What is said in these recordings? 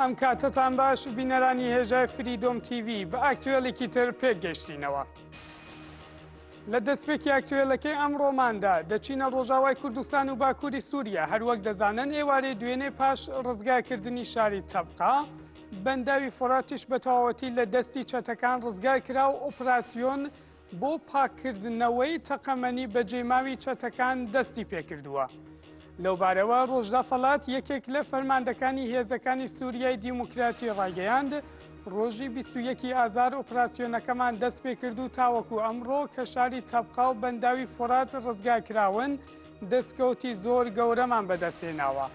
ئەم کاتەتان باش بینەرانی هێژای فری دۆم TV بە ئاکتوێلێکی تر پێک گەشتینەوە. لە دەستپێکی ئاکتوێلەکەی ئەم ڕۆماندا دەچینە ڕۆژاوای کوردستان و باکووری سووریا هەروەک دەزانن ئێوارەی دوێنێ پاش ڕزگاکردنی شاری تەبقا بەنداوی فۆراتیش بە تەواوەتی لە دەستی چەتەکان ڕزگار کرا و ئۆپراسسیۆن بۆ پاککردنەوەی تەقەمەنی بەجێماوی چەتەکان دەستی پێکردووە. لەوبارەوە ڕۆژدا فەڵات یەکێک لە فەرماندەکانی هێزەکانی سووریای دیموکراتی ڕایگەیاند، ڕۆژی 21 ئازار ئۆپراسسیۆنەکەمان دەست پێکرد و تاوەکو ئەمڕۆ کە شاری تەبقا و بەنداوی فۆرات ڕزگار کراون، دەستکەوتی زۆر گەورەمان بەدەستهێناوە.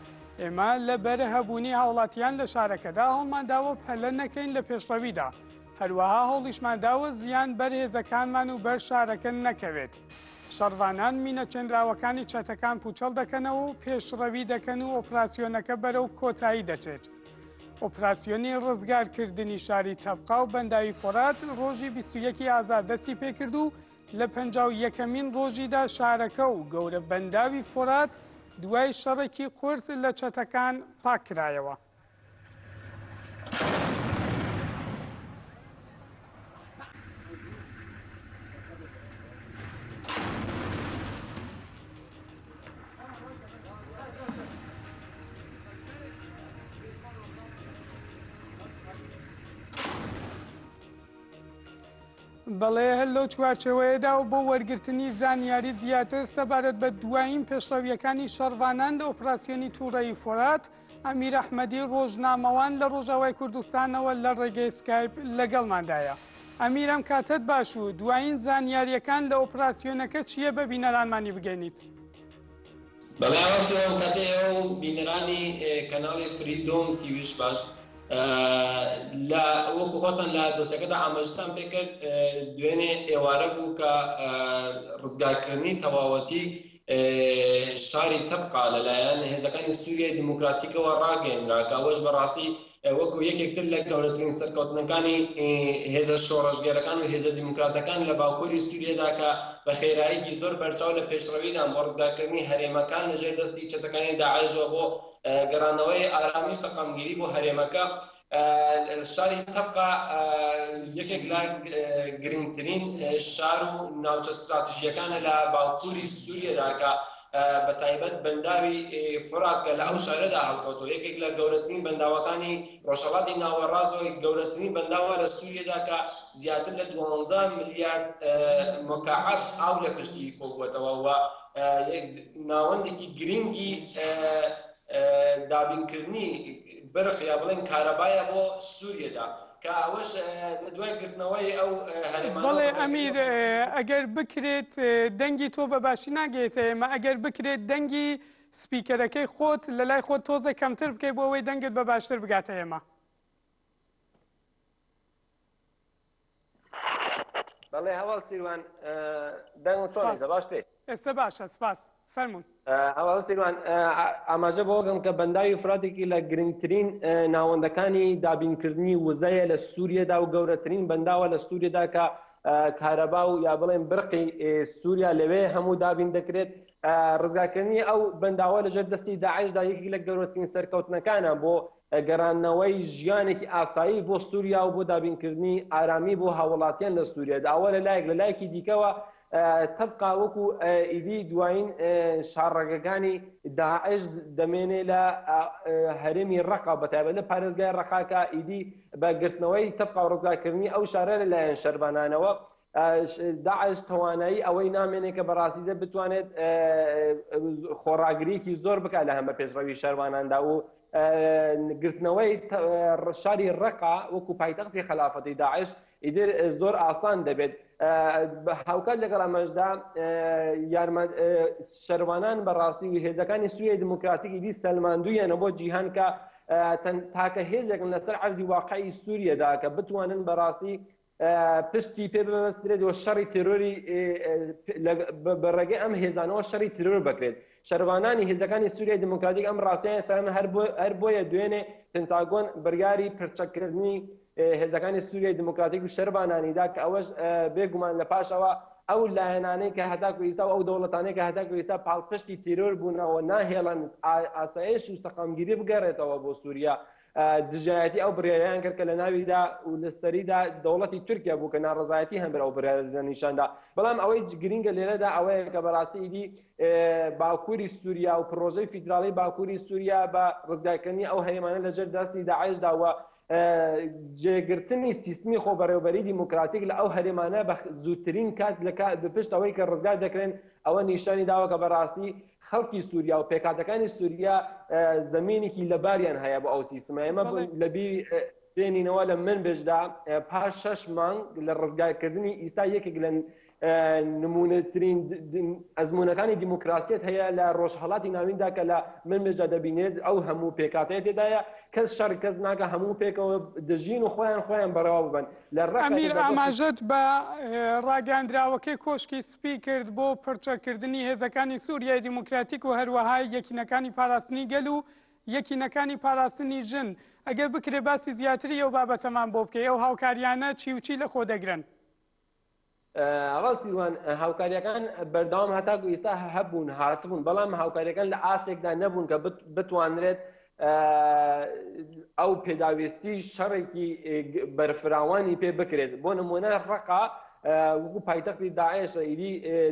ئێمە لەبەر هەبوونی هاوڵاتیان لە شارەکەدا هەوڵمانداوە پەلە نەکەین لە پێشڕەویدا. هەروەها هەوڵیشمان دا و زیان بەر هێزەکانمان و بەر شارەکە نەکەوێت. شەڕڤانان مینە چێنراوەکانی چەتەکان پووچەڵ دەکەنەوە و پێشڕەوی دەکەن و ئۆپراسیۆنەکە بەرەو کۆتایی دەچێت. ئۆپراسیۆنی ڕزگارکردنی شاری تەبقا و بەنداوی فۆرات ڕۆژی بیست و یەکی ئازار دەستی پێکرد و لە پەنجا و یەکەمین ڕۆژیدا شارەکە و گەورە بەنداوی فۆرات دوای شەڕێکی قورس لە چەتەکان پاککرایەوە. بەڵێ هەر لەو چوارچەوەیەدا و بۆ وەرگرتنی زانیاری زیاتر سەبارەت بە دوایین پێشڕەویەکانی شەڕڤانان لە ئۆپراسسیۆنی تووڕەیی فۆرات ئەمیر ئەحمەدی ڕۆژنامەوان لە ڕۆژاوای کوردستانەوە لە ڕێگەی سکایپ لەگەڵماندایە. ئەمیر ئەم کاتەت باش و دوایین زانیارییەکان لە ئۆپراسیۆنەکە چییە بە بینەرانمانی بگەینیت؟ بەڵێ ڕاستە ئەم کاتە ئێوە و بینەرانی کەناڵی فری دۆم تیویش باش لە وەکو خۆتان لە دۆسەکەدا ئاماژەتان پێکرد دوێنێ ئێوارە بوو کە ڕزگارکردنی تەواوەتی شاری تەبقا لەلایەن هێزەکانی سووریای دیموکراتیکەوە ڕاگەیەنرا کە ئەوەش بەڕاستی وەکو یەکێک تر لە گەورەترین سەرکەوتنەکانی هێزە شۆڕشگێرەکان و هێزە دیموکراتەکان لە باکووری سووریەدا کە بە خێراییکی زۆر بەرچاو لە پێشڕەویدان بۆ ڕزگارکردنی هەرێمەکان لەژێر دەستی چەتەکانی داعشەوە بۆ گەڕانەوەی ئارامی و سەقامگیری بۆ هەرێمەکە شاری تەبقا یەکێک لە گرنگترین شار و ناوچە ستراتژیەکانە لە باوکوری سووریەداکە بە تایبەت بەنداوی فراتکە لە ئەو شارەدا هەڵکەوتۆ یەکێک لە گەورەترین بەنداوەکانی ڕۆژهڵاتی ناوەڕاستەوە گەورەترین بەنداوە لە سووریەدا کە زیاتر لە 12 ملیارد مکعب ئاو لە پشتی کۆبووەتەوە و ناوەندێکی گرنگی دابینکردنی برق یا بڵێن کارەبایە بۆ سوریەدا کە ئەوەش لە دوای گرتنەوەی ئەو هەرێمانە بەڵێ ئەمیر ئەگەر بکرێت دەنگی تۆ بە باشی ناگەێتە ئێمە ئەگەر بکرێت دەنگی سپیکەرەکەی خۆت لە لای خۆت تۆزە کەمتر بکەیت بۆ ئەوەی دەنگت بە باشتر بگاتە ئێمە بەڵێ هەواڵ سیروان دەنگم سۆنێ دە باش بێت ئێستا باشە سپاس فەرمون هەواڵ سیروان ئاماژە بۆ بکەم کە بەنداوی فراتێکی لە گرنگترین ناوەندەکانی دابینکردنی وزەیە لە سووریەدا و گەورەترین بەنداوە لە سووریەدا کە کارەبا و یا بڵێن برقی سووریا لەوێ هەموو دابین دەکرێت ڕزگاکردنی ئەو بەنداوە لەژێر دەستی داعشدا یەکی لە گەورەترین سەرکەوتنەکانە بۆ گەڕاندنەوەی ژیانێکی ئاسایی بۆ سووریا و بۆ دابینکردنی ئارامی بۆ هاووڵاتیان لە سووریا داوا لە لایەک لە لایەکی دیکەوە تەبقا وەکو ئیدی دوایین شاڕەگەکانی داعش دەمێنێ لە هەرێمی ڕەقە بە تایبەت لە پارێزگای ڕەقە کە ئیدی بە گرتنەوەی تەبقا و ڕزگارکردنی ئەو شارە لە لایەن شەرڤانانەوە داعش توانایی ئەوەی نامێنێت کە بە ڕاستیدا بتوانێت خۆڕاگریی زۆر بکات لە هەمە پێشڕەوی شەرواناندا و گرتنەوەی ڕشاری ڕقا وەکو پایتەختی خەلافەتی داعش ئیدر زۆر ئاسان دەبێت بە هاوکات لەگەڵ ئەمەشدا یارمە شەروانان بەڕاستی و هێزەکانی سوویە دموکراتیکی دی سەلماندویانە بۆ جیهان کە تاکە هێزێکن لەسەر عەرزی واقعی سووریەدا کە بتوانن بەڕاستی پشتی پێ ببەسترێت و شەڕی تێرۆری بە ڕێگەی ئەم هێزانەوە شەڕی ترۆر بکرێت شەروانانی هێزەکانی سووریای دموکراتیک ئەم ڕاستیان سەرن هەر بۆیە دوێنێ پنتاگۆن بڕیاری پرچەکردنی هێزەکانی سووریای دموکراتیک و شەربانانیدا کە ئەوەش بێگومان لە پاشەوە ئەو لایەنانەی کە هەتاکو ئیستا و ئەو دەوڵەتانەی کە هەتاکو ئیستا پاڵپشتی تیرۆر بوونەوە ناهێڵن ئاسایش و سەقامگیری بگەڕێتەوە بۆ سووریا دژایەتی ئەو بڕیارەیان کرد کە لەناویدا و لەسەریدا دەوڵەتی تورکیا بوو کە ناڕەزایەتی هەمبەر ئەو بڕیارە نیشاندا بەڵام ئەوەی گرینگە لێرەدا ئەوەیە کە بەڕاستی ئیدی باکووری سووریا و پڕۆژەی فیدراڵی باکووری سووریا بە ڕزگارکردنی ئەو هەرێمانە لەژێر دەستی داعشدا و جێگرتنی سیستمی خۆبەڕێوەبەری دیموکراتیک لە ئەو هەرێمانە بە زووترین کات لە بپشت ئەوەی کە ڕزگار دەکرێن ئەوە نیشانی داوە کە بەڕاستی خەڵکی سوریا و پێکهاتەکانی سوریا زەمینێکی لەباریان هەیە بۆ ئەو سیستمە ئێمە لەبیر بێنینەوە لە من بێژدا پاش شەش مانگ لە ڕزگارکردنی ئیستا یەکێک لە نمونەترین ئەزمونونەکانی دیموکراسیت هەیە لە ڕۆژهڵاتی ناویندا کە لە من مێژدا دەبینێت ئەو هەموو پێکاتەیە تێدایە کەس شەڕ کەس ناکە هەموو پێکەوە دەژین و خۆیان خۆیان بەڕەوا ببن ئەمیر ئاماژەت بە ڕاگەیاندراوەکەی کۆشکی سپی کرد بۆ پڕچەککردنی هێزەکانی سووریای دیموکراتیک و هەروەها یەکینەکانی پاراستنی گەل و یەکینەکانی پاراستنی ژن، ئەگەر بکرێت باسی زیاتری ئەو بابەتەمان بۆ بکەی، ئەو هاوکارییانە چی و چی لەخۆ دەگرن؟ ڕاستی وان هاوکاریەکان بەردەوام هەتاکو ئێستا هەبوون هاتبوون بەڵام هاوکاریەکان لە ئاستێکدا نەبوون کە بتوانرێت ئەو پێداویستی شەڕێکی بەرفراوانی پێ بکرێت بۆ نمونە ڕقا وەکو پایتەختی داعش ئیدی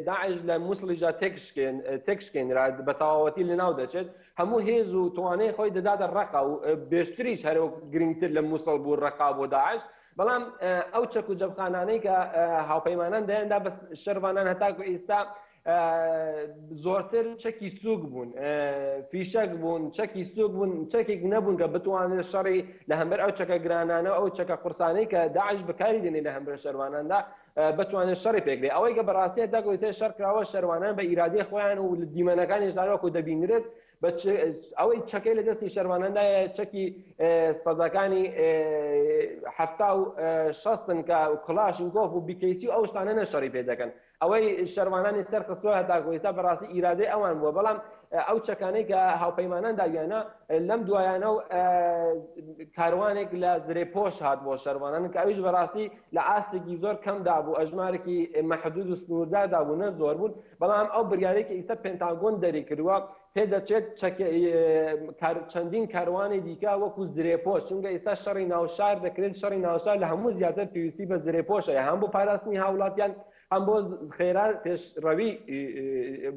داعش لە مووسڵیژا تێکشکێن تێکشکێنرا بە تەواوەتی لە ناو دەچێت هەموو هێز و توانەی خۆی دەداتە ڕقا و بێشتریش هەرۆک گرنگتر لە مووسڵ بوو ڕقا بۆ داعش بەڵام ئەو چەک و جەمخانانەی کە هاوپەیمانان دەیاندا بە شەرڤانان هەتاکو ئیستا زۆرتر چەکی سووک بوون فیشەک بوون چەکی سووک بوون چەکێک نەبوون کە بتوانێت شەڕی لە هەمبەر ئەو چەکە گرانانە و ئەو چەکە قورسانەی کە داعش بەکاری دێنێت لە هەمبەر شەرڤاناندا بتوانێت شەڕی پێکرێت ئەوەی کە بەڕاستی هەتاکو ئیستا شەڕ کراوە شەرڤانان بە ئیرادەی خۆیان و لە دیمەنەکانیشدا وەکو دەبینرێت بە چ ئەوەی چەکەی لە دەستی شەرڤانەندایە چەکی سەدەکانی حەفتا و شەستن کە کڵاشنکۆف و بیکەیسی و ئەو شتانە نەشەڕی پێ دەکەن ئەوەی شەرڤانانی سەر خستووە هەتاکۆ ئێستا بەڕاستی ئیرادەی ئەوان بووە بەڵام ئەو چەکانەی کە هاوپەیمانان داویانە لەم دوایانە و کاروانێک لە زرێ پۆش هات بۆ شەرڤانان کە ئەویش بەڕاستی لە ئاستێکی زۆر کەمدا بوو ئەژمارێکی مەحدود و سنووردادا بوو نە زۆر بوون بەڵام ئەو بریارەی کە ئیستا پنتاگۆن دەریکردوە پێدەچێت چەندین کاروانی دیکە وەکو زرێپۆش چونکە ئیستا شەڕی ناو شار دەکرێت شەڕی ناو شار لە هەموو زیاتر پێویستی بە زرێپۆش هەیە هەم بۆ پاراستنی هاوڵاتیان هەم بۆ خێرا پێشڕەوی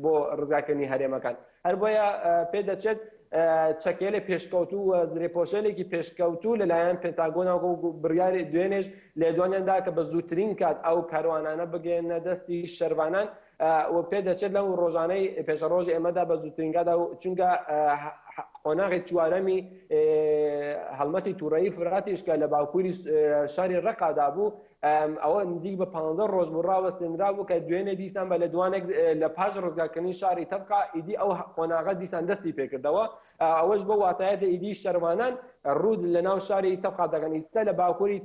بۆ ڕزگارکردنی هەرێمەکان. هەر بۆیە پێدەچێت چەکێلێ پێشکەوتوو و زرێپۆشێنێکی پێشکەوتوو لەلایەن پێنتاگۆنەوە و بڕیاری دوێنێش لێدوانیان دا کە بە زووترین کات ئەو کاروانانە بگەیەننە دەستی شەرڤانان و پێدەچێت لەو ڕۆژانەی پێشەڕۆژی ئێمەدا بە زووترین کاتدا و چونکە قۆناغی چوارەمی هەڵمەتی تووڕەیی فراتیش کە لە باکووری شاری ڕەقادا بوو ئەوە نزیک بە پانزە ڕۆژ بوو ڕاوەستێنرابوو کە دوێنێ دیسان بە لێدوانێک لە پاش ڕزگارکردنی شاری تەبقا ئیدی ئەو قۆناغە دیسان دەستی پێکردەوە ئەوەش بۆ واتایەتە ئیدی شەروانان ڕوود لە ناو شاری تەبقا دەگەن ئیستا لە باکووری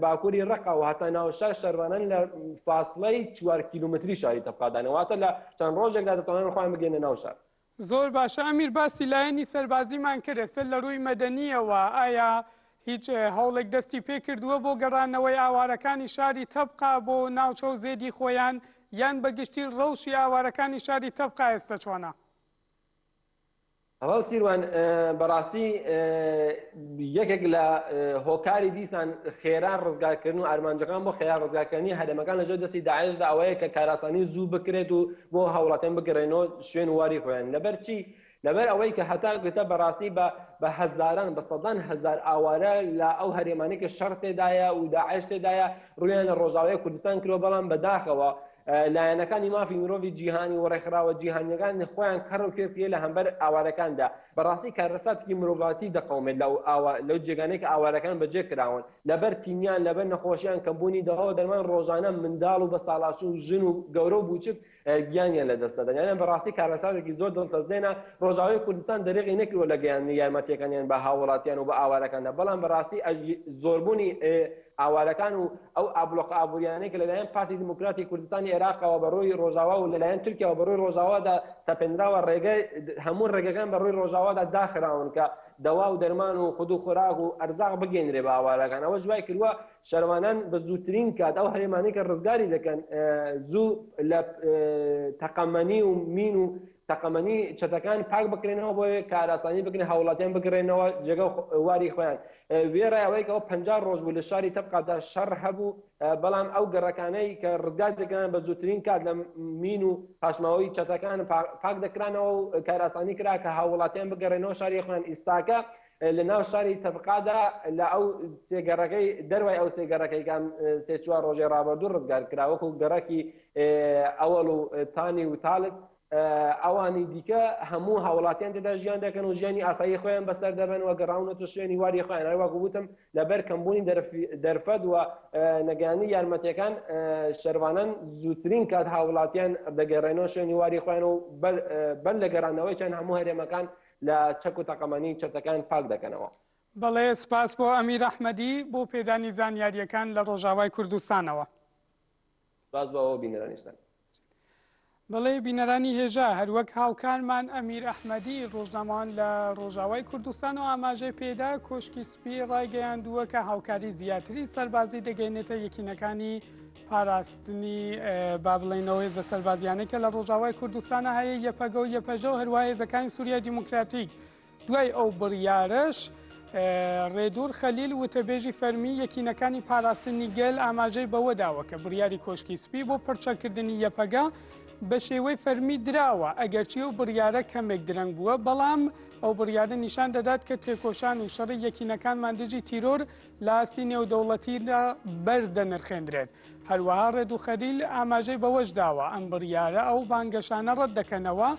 باکووری ڕقا و هەتا ناوشار شەروانان لە فاصلەی چوار کیلومتری شاری تەبقادانەواتە لە چەند ڕۆژێکدا دەتوانن خۆیان بگەنە ناو شار زۆر باشە ئەمیر باسی لایەنی سەربازیمان کرد ئێستا لە ڕووی مەدەنیەوە ئایا هیچ هەوڵێک دەستی پێکردووە بۆ گەڕانەوەی ئاوارەکانی شاری تەبقا بۆ ناوچە و زێدی خۆیان یان بەگشتی ڕەوشی ئاوارەکانی شاری تەبقا ئێستا چۆنە؟ هەواڵ سیروان بەڕاستی یەکێک لە هۆکاری دیسان خێرا ڕزگاکردن و ئارمانجەکان بۆ خێرا ڕزگاکردنی هەرێمەکان لەژێر دەستی داعشدا ئەوەیە کە کاراسانی زوو بکرێت و بۆ هەوڵەکەن بگەرێنەوە شوێن و واری خۆیان لەبەر چی لەبەر ئەوەی کە هەتا گوێستا بەڕاستی بە بە هەزاران بە سەدان هەزار ئاوارە لە ئەو هەرێمانی کە شەڕ تێدایە و داعش تێدایە ڕویان لە ڕۆژاوای کوردستان کرۆ بەڵام بەداخەوە لایەنەکانی مافی مرۆڤی جیهانی و ڕێکخراوە جیهانیەکان خۆیان کەڕ و کێ پێ لە هەمبەر ئاوارەکاندا بەڕاستی کارەساتێکی مرۆڤاتی دەقەومێت لە ئاوا لەو جێگانەی کە ئاوارەکان بەجێ کراون لەبەر تینیان لەبەر نەخۆشیان کەم بوونی دەواو دەرمان ڕۆژانە منداڵ و بەساڵاچو و ژن و گەورەو بوچک گیانیان لە دەست دەدەن یانە بەڕاستی کارەساتێکی زۆر دڵتەزێنە ڕۆژاوای کوردستان دەرێغی نەکردوە لە گەیاندنی یارمەتیەکانیان بە هاووڵاتیان و بە ئاوارەکاندا بەڵام بەڕاستی ئەژی زۆربوونی ئاوارەکان و ئەو ئابڵۆقە ئابوورییانەی کە لەلایەن پارتی دیموکراتی کوردستانی عێراقەوە بە رووی رۆژاوا و لەلایەن تورکیاوە بە رووی رۆژاوادا سەپێنراوە رێگە هەموو رێگەکان بە رووی رۆژاوادا داخراون کە دەوا و دەرمان و خود و خۆراک و ئەرزاق بگەینرێ بە ئاوارەکان ئەوەش وای کردووە شەرڤانان بە زووترین کات ئەو هەرێمانەی کە رزگاری دەکەن زوو لە تەقەمەنی و مین و تەقەمەنی چەتەکان پاک بکرێنەوە بۆ ئەوەی کارئاسانی بکرێت هاوڵاتیان بگرێنەوە جێگە واری خۆیان وێڕای ئەوەی کە ئەوە پەنجا ڕۆژ بوو لە شاری تەبقادا شەڕ هەبوو بەڵام ئەو گەڕەکانەی کە ڕزگار دەکران بە زووترین کات لە مین و پاشماوەی چەتەکان پاک دەکرانەوە و کارئاسانی کرا کە هاوڵاتیان بگەڕێنەوە شاری خۆیان ئیستاکە لە ناو شاری تەبقادا لە ئەو سێ گەڕەکەی دەروای ئەو سێ گەڕەکەی کە ئەم سێ چوار ڕۆژەی ڕابردوو ڕزگار کرا وەکو گەڕەکی ئەوەڵ و تانی و تالب ئەوانی دیکە هەموو هاوڵاتیان تێدا ژیان دەکەن و ژیانی ئاسایی خۆیان بەسەر دەبەن و گەڕاونەتە شوێنی واری خۆیان هەر وەکو وتم لەبەر کەمبوونی دەرفەت و نەگەیاندنی یارمەتییەکان شەروانان زووترین کات هاوڵاتیان دەگەڕێنەوە شوێنی واری خۆیان و بەر لە گەڕانەوەیان هەموو هەرێمەکان لە چەک و تەقەمەنی چەتەکان پاک دەکەنەوە. بەڵێ سپاس بۆ ئەمیر ئەحمەدی بۆ پێدانی زانیارییەکان لە ڕۆژاوای کوردستانەوە. سپاس بۆ بینەرانیشتان. بەڵێ بینەرانی هێژا هەروەک هاوکارمان ئەمیر ئەحمەدی ڕۆژنامەوان لە ڕۆژاوای کوردستان و ئاماژەی پێدا کۆشکی سپی ڕایگەیاندووە کە هاوکاری زیاتری سەربازی دەگەینێتە یەکینەکانی پاراستنی با بڵێین ئەو هێزە سەربازیانەی کە لە ڕۆژاوای کوردستانە هەیە یەپەگە و یەپەژە و هەروە هێزەکانی سووریای دیموکراتیک دوای ئەو بڕیارش ڕێدور خەلیل وتەبێژی فەرمی یەکینەکانی پاراستنی گەل ئاماژەی بەوە داوە کە بڕیاری کۆشکی سپی بۆ پرچەکردنی یەپەگە بە شێوەی فەرمی دراوە ئەگەرچی و بڕیارە کەمێک درەنگ بووە بەڵام ئەو بڕیارە نیشان دەدات کە تێکۆشان و شەڕی یەکینەکانمان دژی تیرۆر لە ئاستی نێودەوڵەتیدا بەرز دەنرخێندرێت. هەروەها ڕێد و خەلیل ئاماژەی بەوەش داوە، ئەم بڕیارە ئەو بانگەشانە ڕەت دەکەنەوە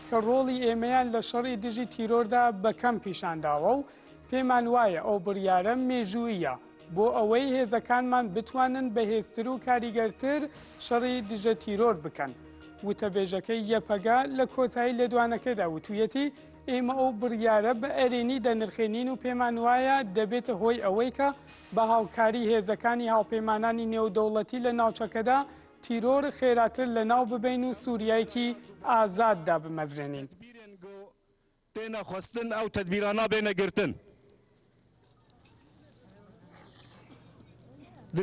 کە ڕۆڵی ئێمەیان لە شەڕی دژی تیرۆردا بە کەم پیشان داوە و پێمان وایە ئەو بڕیارە مێژووییە بۆ ئەوەی هێزەکانمان بتوانن بەهێزتر و کاریگەرتر شەڕی دژە تیرۆر بکەن. وتەبێژەکەی یەپەگە لە کۆتایی لێدوانەکەیدا وتوویەتی، ئێمە ئەو بڕیارە بە ئەرێنی دەنرخێنین و پێمان وایە دەبێتە هۆی ئەوەی کە بە هاوکاری هێزەکانی هاوپەیمانانی نێودەوڵەتی لە ناوچەکەدا تیرۆر خێراتر لە ناو ببەین و سووریایەکی ئازاد دابمەزرێنین. تێنە خوستن ئەو تەدبیرانە بێنە گرتن.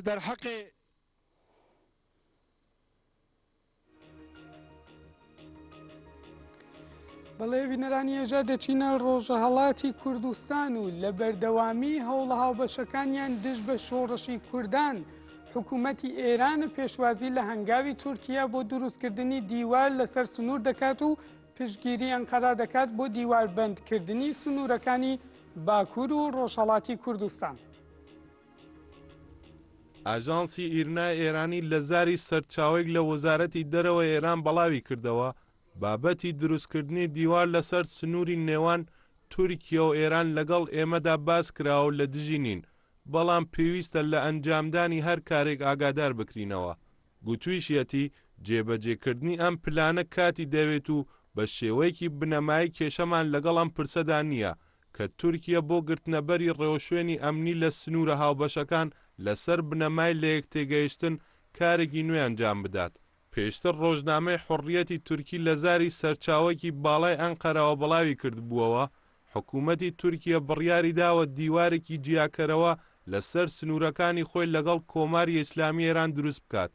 دەرحەقێ. بەڵێ بینەرانی ئێژە دەچینە ڕۆژەهڵاتی کوردستان و لە بەردەوامی هەوڵە هاوبەشەکانیان دژ بە شۆڕشی کوردان حکوومەتی ئێران و پێشوازی لە هەنگاوی تورکیا بۆ دروستکردنی دیوار لەسەر سنوور دەکات و پشگیری ئەنقەرا دەکات بۆ دیواربندکردنی سنوورەکانی باکوور و ڕۆژهڵاتی کوردستان. ئاژانسی ئیرنای ئێرانی لە زاری سەرچاوەیەک لە وەزارەتی دەرەوەی ئێران بەڵاوی کردەوە، بابەتی دروستکردنی دیوار لەسەر سنووری نێوان تورکیە و ئێران لەگەڵ ئێمەدا باس کراوە و لە دژی نین، بەڵام پێویستە لە ئەنجامدانی هەر کارێک ئاگادار بکرینەوە. گوتویشیەتی، جێبەجێکردنی ئەم پلانە کاتی دەوێت و بە شێوەیەکی بنەمایی کێشەمان لەگەڵ ئەم پرسەدا نییە، کە تورکیە بۆ گرتنەبەری ڕێوشوێنی ئەمنی لە سنوورە هاوبەشەکان لەسەر بنەمای لەیەکتێگەیشتن کارێکی نوێ ئەنجام بدات. پێشتر ڕۆژنامەی حوڕیەتی تورکی لە زاری سەرچاوەێکی باڵای ئەنقەرەوە بڵاوی کردبووەوە، حکوومەتی تورکیە بڕیاری داوە دیوارێکی جیاکەرەوە لەسەر سنوورەکانی خۆی لەگەڵ کۆماری ئێسلامیی ئێران دروست بکات.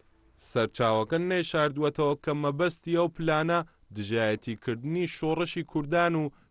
سەرچاوەکە نەیشاردووەتەوە کە مەبەستی ئەو پلانە دژایەتیکردنی شۆڕشی کوردان و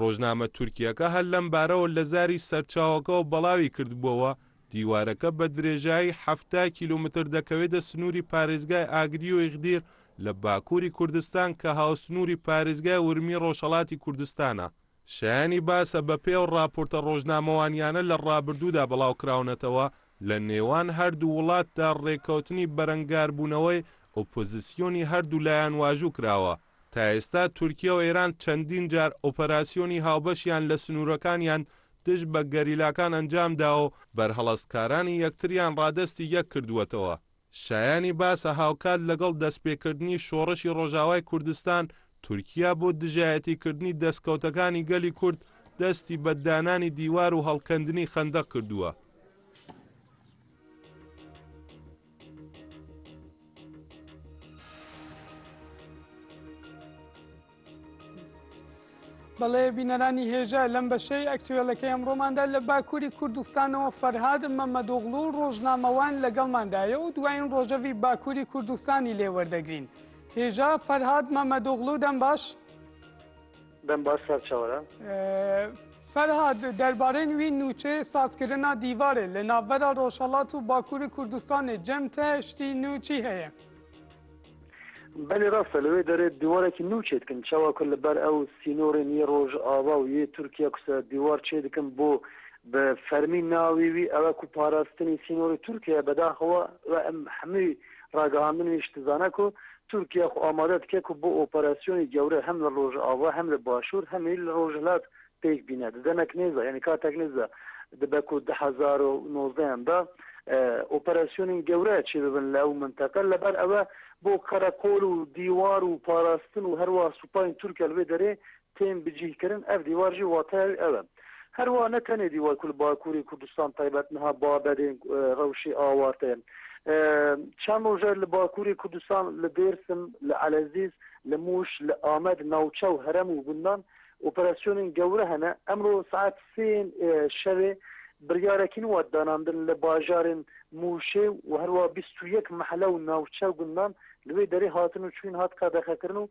ڕۆژنامە تورکییەکە هەر لەم بارەوە لە زاری سەرچاوەکەوە بەڵاوی کردبووەوە، دیوارەکە بە درێژایی حەفتا کیلۆمەتر دەکەوێتە سنووری پارێزگای ئاگری و ئیغدیر لە باکووری کوردستان کە هاوسنووری پارێزگای ورمی ڕۆژهەڵاتی کوردستانە. شایانی باسە بەپێی ئەو ڕاپۆرتە ڕۆژنامەوانییانە لە ڕابردوودا بڵاوکراونەتەوە، لە نێوان هەردوو وڵاتدا ڕێککەوتنی بەرەنگاربوونەوەی ئۆپۆزسیۆنی هەردوولایان واژوو کراوە، تا ئێستا تورکیە و ئێران چەندین جار ئۆپەراسیۆنی هاوبەشیان لە سنوورەکانیان دژ بە گەریلاکان ئەنجام داوە و بەرهەڵستکارانی یەکتریان ڕادەستی یەک کردووەتەوە. شایانی باسە هاوکات لەگەڵ دەستپێکردنی شۆڕشی ڕۆژاوای کوردستان، تورکیە بۆ دژایەتیکردنی دەستکەوتەکانی گەلی کورد دەستی بە دانانی دیوار و هەڵکەندنی خەندەق کردووە. بەڵێ بینەرانی هێژە لەم بەشەی ئەکتوێلەکەی ئەمڕۆماندا لە باکووری کوردستانەوە فەرهاد مەمەدۆغڵو و ڕۆژنامەوان لەگەڵماندایە و دوایین ڕۆژەوی باکووری کوردستانی لێوەردەگرین هێژا فەرهاد مەمەدۆغڵو دەم باش دەم باش سەر چەورە. فەرهاد، دەربارەێن وی نووچەێ سازکردنا دیوارێ لە ناڤبەرا رۆژهەڵات و باکوور کوردستانێ جەم تە شتی نوو چی هەێە؟ بەلی راستە لەوێ دەرێد دیوارەکی نوو چێ دکن چاوا ک لە بەر ئەو سینۆڕێن یێ رۆژاوا و یێ تورکیا ک سە دیوار چێ دکن بۆ بە فەرمی ناوی وی ئەوە ک پاراستنی سینۆڕی تورکیایە بەداخەوە ئەم هەموی ڕاگەهاندن هیچ دزانە کو تورکیا خو ئامادە دکە کو بو ئۆپەراسیۆنی گەورە هەم لە ڕۆژئاڤا هەم لە باشور هەم ئی لە ڕۆژهلات پێک بینە ددەنەک نێزا یانی کاتەک نێزا دبە کو دە هەزار و نۆزدە یان دا ئۆپەراسیۆنین گەورە چێ ببن لە ئەو منتەقە لە بەر ئەوە بو قەرەقۆل و دیوار و پاراستن و هەروا سوپاین تورکیا لە وێ دەرێ تێن بجیه کرن ئەڤ دیوار ژی واتایەوی ئەوە هەر وا نە تەنێ دیوار کول باکووری کوردستان تایبەت نها بابەدێن رەوشێ ئاوارتەێ چەن رووژە لە باکووری کوردستان لە دێرسم لە ئەلەزیز لە مووش لە ئامەد ناوچە و هەرەم و گوندان ئۆپەراسیۆنێن گەورە هەنە ئەمرۆ ساعەت سێێن شەوێ بریارەکین وەت داناندن لە باژارێن مووشێ و هەر وا بیست و یەک مەحەلە و ناوچە و گوندان لەوێ دەرێ هاتن و چوین هات قەدەخە کرن و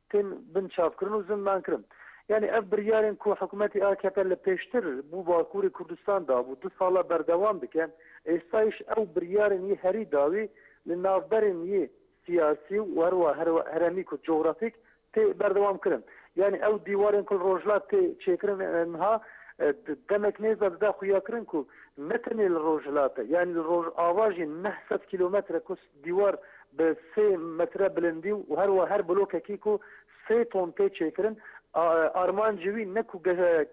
تین بن چاپ کرن و زندان کرن یانی ئەڤ بریارێن کو حکومەتی ئاکەپە لە پێشتر بو باکوری کوردستان دابو دو ساڵە بەردەوام دکە ئێستایش ئەو بریارێن ی هەری داوی لە ناڤبەرێن ی سیاسی و هەروا هەرەمی کو جوغرافیک تێ بەردەوام کرن یانی ئەو دیوارێن کل ڕۆژلات تێ چێکرن ئنها دەمێک نێزا ددا خویا کرن کو نە تەنێ لە ڕۆژهلاتە یانی لە ڕۆژئاوا ژین نە سەد کیلومەترە کو دیوار بە سێ مەترە بلندی و هەروا هەر بلۆکەکیک و سێ تۆن پێ چێکرن. ئارمانج وی نەکو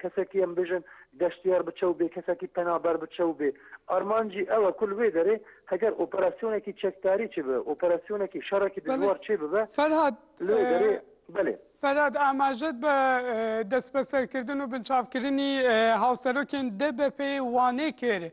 کەسەکی ئەم بژن گەشتیار بچە و بێ کەسەکی پەنابەر بچە و بێ. ئارمانجی ئەوە کل وێ دەرێ هەگەر ئۆپەراسیۆنەکی چەکداری چێ ببە، ئۆپەراسیۆنەکی شەڕەکی بەلێ دژوار چێ ببە فەرهاد لەوێ دەرێ. بەلێ. فەرهاد ئاماژەت بە دەسبەسەرکردن و بنچاوکرنی هاوسەرۆکێن دەبەپێ وانێ کرد،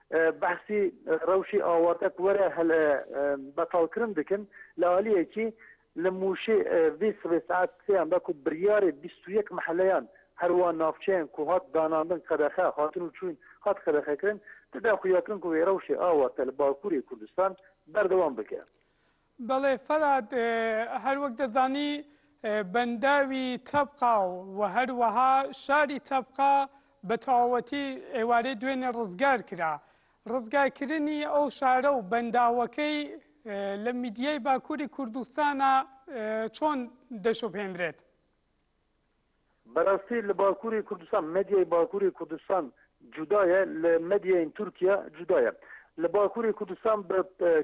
بەحسی رەوشی ئاواتەک وەرە هەل بەتاڵکرن دکن لەالیەکی لە مووشەی ڤی سبەی سەعات سێیان بە کو بریارێ بیست و یەک مەحەلەیان هەروا ناوچەیان کو هات داناندن قەدەخە هاتن و چوین هات قەدەخەکرن تدا خویاکرن کو وێ رەوشێ ئاواتە لە باکوورێ کوردستان بەردەوام بکە. بەڵێ فەرات، هەروەک دەزانی بەنداوی تەبقا و هەروەها شاری تەبقا بە تەواوەتی ئێوارەی دوێنێ ڕزگار کرا. ڕزگارکردنی ئەو شارە و بەنداوەکەی لە میدیای باکووری کوردستانا چۆن دەشوبهێنرێت؟ بەراستی لە باکوری کوردستان مەدیای باکوری کوردستان جودایە لە مەدیاین تورکیا جودایە لە باکوری کوردستان بە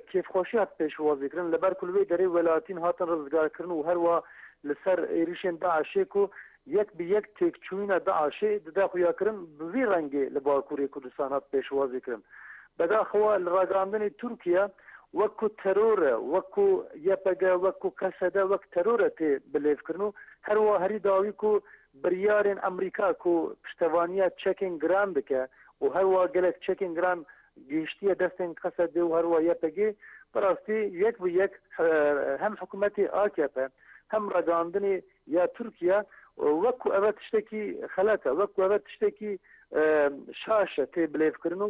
کیف خۆشی هات پێشوازی کردن لە بەر کلوی دەری وەلاتین هاتن رزگار کردن و هەروە لەسەر ئێریشێن دا عشێک و یەک بە یەک تێک چوینە دا عشێ ددا خویا کردن بڤی رەنگێ لە باکوری کوردستان هات پێشوازی کردن بەداخەوە لە راگاندنی تورکیا وەکو تەرۆرە وەکو یەپەگە وەکو کەسەدە وەک تەرۆرە تێ بلێف کردن و هەروا هەری داوی کو بریارێن ئەمریکا کو پشتەوانیە چەکێن گران بکە و هەروا گەلەک چەکێن گران گەیشتیە دەستێن قەسەدێ و هەروا یەپەگێ بەراستی یەک بە یەک هەم حکومەتێ ئاکێپە هەم رەگاندنێ یا تورکیا وەک کو ئەڤە تشتەکی خەلەتە وەک کو ئەڤە تشتەکی شاشە تێ بلێڤ کرن و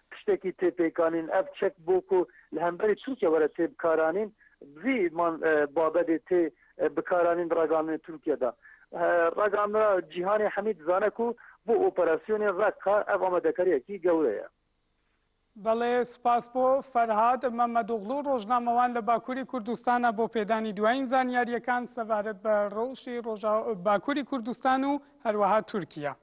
پشتەکی تێپێکانین ئەڤ چەک بۆ کو لە هەمبەرێ تورکیا وەرە تێ بکارانین بڤی مان بابەدێ تێ بکارانین راگاننێ تورکیا دا راگانرا جیهانێ هەمی دزانە کو بۆ ئۆپەراسیۆنێ رەققە ئەڤ ئامادەکاریەکی گەورەیە. بەڵێ، سوپاس بۆ، فەرهاد مەمەدوغڵو، ڕۆژنامەوان لە باکووری کوردستانە بۆ پێدانی دوایین زانیارییەکان سەبارەت بە ڕەوشی ڕۆژاوا باکووری کوردستان و هەروەها تورکیا.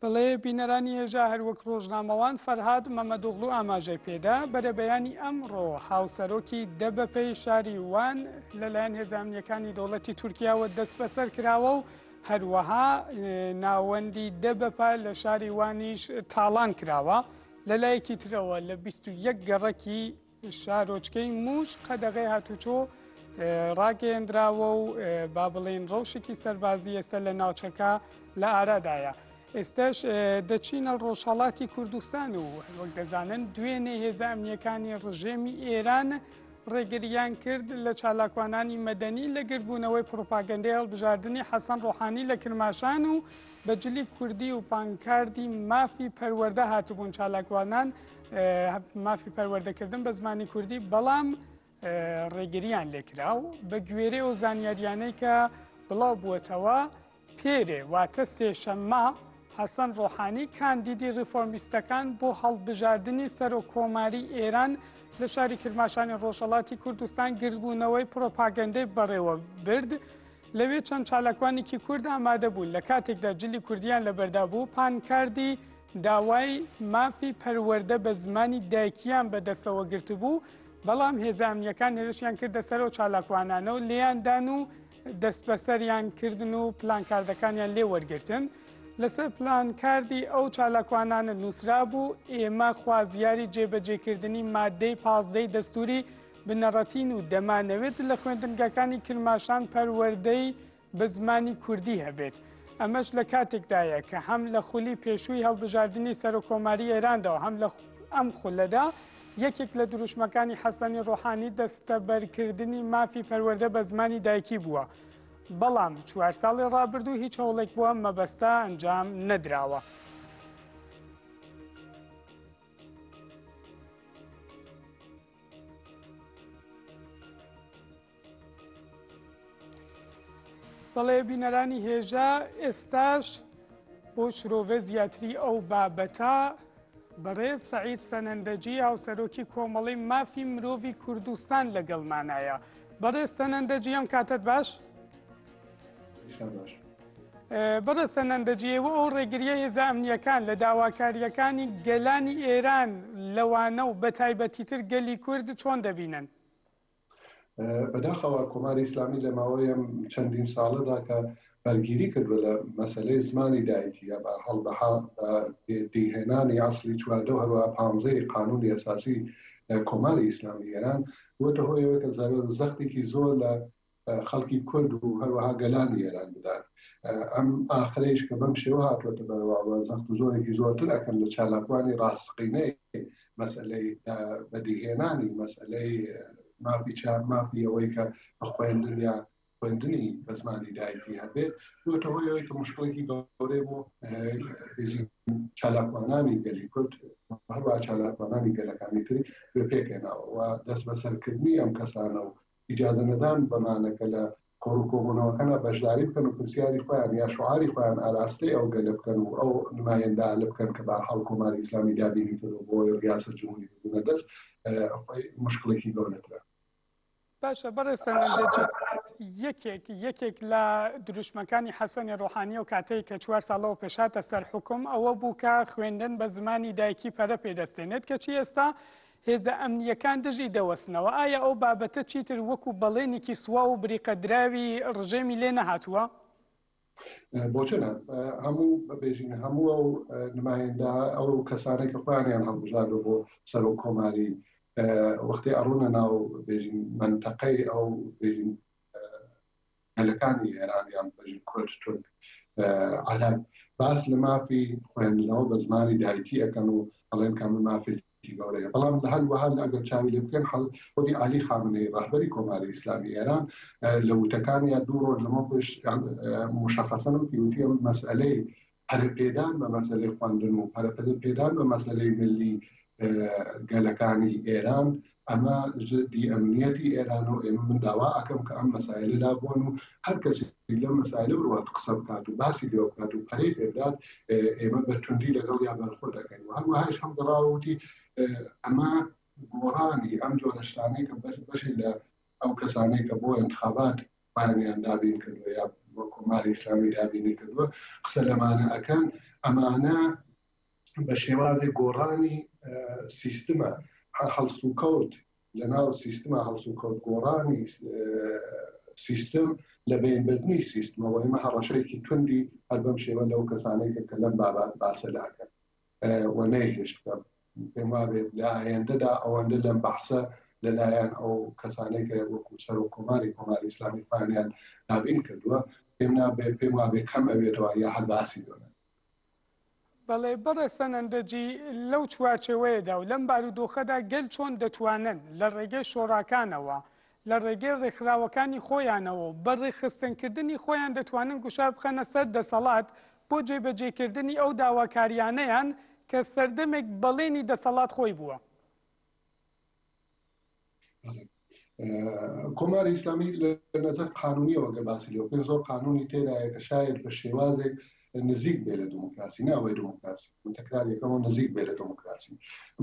بەڵێ بینەرانی هێژا هەروەک ڕۆژنامەوان فەرهاد مەمەدوغلو ئاماژەی پێدا بەرەبەیانی ئەمڕۆ هاوسەرۆکی دەبەپەی شاری وان لەلایەن هێزانیەکانی دەوڵەتی تورکیاوە دەست بەسەر کراوە و هەروەها ناوەندی دەبەپە لە شاری وانیش تاڵان کراوە لەلایەکی ترەوە لە 21 گەڕەکی شارۆچکەی مووش قەدەغەی هاتووچۆ ڕاگەیەندراوە و با بڵێن ڕەوشێکی سەربازی ئێستا لە ناوچەکە لە ئارادایە. ئێستاش دەچینە ڕۆژهڵاتی کوردستان و وەک دەزانن دوێنێ هێزە ئەمنیەکانی ڕژێمی ئێران ڕێگریان کرد لە چالاکوانانی مەدەنی لە گردبوونەوەی پروپاگەندەی هەڵبژاردننی حەسەن ڕۆحانی لە کرماشان و بەجلی کوردی و پانکاردی مافی پەروەەردە هاتبوون چالاکوانان مافی پەروەردەکردن بە زمانی کوردی بەڵام ڕێگریان لێکرا و بە گوێرە و زانیاریانەی کە بڵاو بووەتەوە پێرێ واتە سێشەممە حەسەن ڕۆحانی کاندیدی ریفۆرمیستەکان بۆ هەڵبژاردننی سەرۆک کۆماری ئێران لە شاری کرماشانی ڕۆژەڵاتی کوردستان گردبوونەوەی پرۆپاگەندەی بەڕێوە برد. لەوێ چەند چالاکوانێکی کورد ئامادە بوون لە کاتێکدا جلی کوردیان لەبەردا بوو پانکاردی داوای مافی پەروەردە بە زمانی دایکییان بە دەستەوە گرتبوو، بەڵام هێزە ئەمنییەکان هێرشیان کردە سەر و چالاکوانانە و لێیان دان و دەستبەسەریان کردن و پلانکاردەکانیان لێ وەرگرتن. لەسەر پلانکاردی ئەو چالاکوانانە نووسرابوو، ئێمە خوازیاری جێبەجێکردنی ماددەی پازدەی دەستووری بنەڕەتین و دەمانەوێت لە خوێندنگەکانی کرماشان پەروەردەی بە زمانی کوردی هەبێت، ئەمەش لە کاتێکدایە کە هەم لە خولی پێشووی هەڵبژاردنی سەرۆککۆماری ئێراندا و هەم لە ئەم خولەدا یەکێک لە دروشمەکانی حەسەنی ڕۆحانی دەستەبەرکردنی مافی پەروەردە بە زمانی دایکی بووە. بەڵام چوار ساڵی ڕابردوو هیچ هەوڵێک بۆ ئەم مەبەستە ئەنجام نەدراوە. بەڵێ بینەرانی هێژا ئێستاش بۆ شرۆڤە زیاتری ئەو بابەتە بەڕێز سعید سەنەندەجی هاوسەرۆکی کۆمەڵی مافی مرۆڤی کوردستان لەگەڵمانایە بەڕێز سەنەندەجی ئەم کاتت باش؟ بەڕێسە نەندەجیەوە ئەو ڕێگریە هێزە ئەمنیەکان لە داواکاریەکانی گەلانی ئێران لەوانە و بە تایبەتیتر گەلی کورد چۆن دەبینن بەداخەوە کۆماری ئیسلامی لە ماوەیە چەندین ساڵەدا کە بەرگیری کردوە لە مەسلەی زمانی دایکی یا بە هەڵ دیهێنانی ئاسلی چواردە و هەروە پانزەی قانونی ئەساسی کۆماری ئیسلامی ئێران بۆتە هۆیەوە کە زەرەر زەختێکی زۆر لە خەڵکی کورد و هەروەها گەلانی ئێران بدات. ئەم ئاخرەیش کە بەم شێوە هاتووەتە بەرەوە و زەخت و زۆرێکی زۆرتر ئەکەن لە چالاکوانی ڕاستەقینەی مەسەلەی بەدیهێنانی مەسەلەی مافی چاپ، مافی ئەوەی کە بە خوێندن یا خوێندنی بە زمانی دایکی هەبێت، بووەتە هۆی ئەوەی کە مشکڵێکی گەورەی بۆ چالاکوانانی گەلی کورد و هەروەها چالاکوانانی گەلەکانی تری بە پێکهێناوە و دەستبەسەرکردنی ئەم کەسانە و ئیجازە نەدان بەمانە کە لە کۆڕ و کۆبوونەوەکەنا بەشداری بکەن و پرسیاری خۆیان یا شوعاری خۆیان ئاراستەی ئەو گەلە بکەن و ئەو نمایندالە بکەن کە بەحاڵ کۆماری ئیسلامی دابینی کردوە بۆ ئەوەی ڕیاسەت جمهوری بگرنە دەست خۆی مشکڵێکی گەورەترە. باشە بەڕێز سەنگەر جەجی یەکێک یەکێک لە دروشمەکانی حەسەنی ڕۆحانیە و کاتەی کە چوار ساڵەوە پێشاتە سەر حکم ئەوە بوو کە خوێندن بە زمانی دایکی پەرە پێدەستێنێت کەچی ئێستا هێزە ئەمنییەکان دژی دەوەستنەوە، ئایا ئەو بابەتە چیتر وەکو بەڵێنێکی سواو و بریقەدراوی ڕژێمی لێ نەهاتووە؟ بۆچ نا، هەموو بەبێژین هەموو ئەو نمایندە ئەو کەسانەی کە خۆیانیان هەڵبژاردوە بۆ سەرۆک کۆماری وەختی ئەڕونە ناو بێژین مەنتەقەی ئەو بێژین گەلەکانی ئێران یان بەژن کورد تورک عەرەب باس لە مافی خوێندنەوە بە زمانی دایکی ئەەکەن و ئەڵێن کامە مافێکی گەورەیە بەڵام لە هەر وەها ئەگەر چاوی لێ بکەن حەڵ خودی علی خامنەی ڕهبەری کۆماری ئیسلامی ئێران لە وتەکان یا دوو ڕۆژ لەمە پێش مشخصن و پیوتی مەسئلەی پەرەپێدان بە مەسەلەی خواندن و پەرەپەرەپێدان بە مەسەلەی ملی گەلەکانی ئێران ئەمە زدی ئەمنیەتی ئێران و ئێمە من داوا ئەکەم کە ئەم مەسایلە لابوون و هەر کەسی لە مەسایلە بڕات قسە بکات و باسی لێ بکات و پەرەی پێدات ئێمە بە توندی لەگەڵ یا بەرخۆ دەکەین و هەروەهایش هەم دەڕاوتی ئەمە گۆڕانی ئەم جۆرەشتانەی کە بەش بەشی لە ئەو کەسانەی کە بۆ انتخابات بارمیان دابین کردوە یا وە کۆماری ئیسلامی دابینی کردوە قسە لەمانە ئەکەن ئەمانە بە شێوازی گۆڕانی سیستمە هەڵسوکەوت لە ناو سیستمە هەڵسوکەوت گۆڕانی سیستم لە بینبردنی سیستمەوە ئمە هەڕەشەیەکی توندی هەر بەم شێوە لەو کەسانێکە کە لەم بابات باسە لاکەن و نەیهێشت بکەم پێم وابێت لە ئایندەدا ئەوەندە لەم بەحسە لەلایەن ئەو کەسانەی کە وەکو سەرۆک کۆماری کۆماری ئیسلامی پانیان دابین کردووە پێم نابێت پێم وابێ کەم ئەوێتەوە یا هەر باسی دۆنە بەڵێ بەڕێستان ئەندەجی لەو چوارچەوەیەدا و لەم بارودۆخەدا گەل چۆن دەتوانن لە ڕێگەی شۆڕاکانەوە لە ڕێگەی ڕێکخراوەکانی خۆیانەوە بە ڕێخستنکردنی خۆیان دەتوانن گوشار بخەنە سەر دەسەڵات بۆ جێبەجێکردنی ئەو داواکارییانەیان کە سەردەمێک بەڵێنی دەسەڵات خۆی بووە. کۆماری ئیسلامی لە نظر قانونیەوە گە باسی لێ بکەین زۆر قانونی تێدایە کە شاید بە شێوازێک نزیک بێ لە دموکراسی ناوەی دموکراسی تەکرارەکەەوە نزیک بێ لە دموکراسی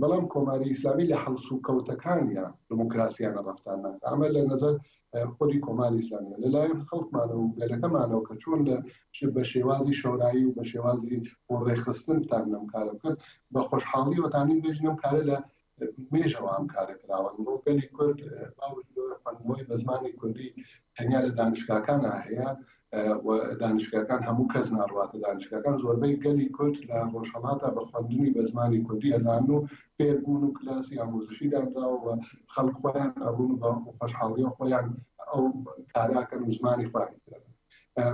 بەڵام کۆماری ئیسلامی لە هەڵسو کەوتەکانیان دموکراسیانە ڕفتان ناکە ئەمە لە نظر خودی کۆماری ئیسلامیە لەلایەن خەڵکمانە و گەلەکەمانەوە کە چۆن لە بە شێوازی شەورایی و بە شێوازی بۆ ڕێخستن تان لەم کارە بکەن بە خۆشحاڵی وەتانی بێژنم کارە لە مێژەوە ئەم کارە کراوە ئەمڕۆ گەلی کورد باوەی بە زمانی کوردی تەنیا لە دانیشتگاکان هەیە و دانیشگاکان هەموو کەس ناڕواتە دانیشگاکان زۆربەی گەلی کورد لە ڕۆژهەڵاتا بە خوەندنی بە زمانی کوردی ئەزان و فێربوون و کلاسی ئامۆزشی دانراوە خەڵک خۆیان ئەڕون بە خۆشحاڵیە خۆیان ئەو کاراکەن و زمانی خوانی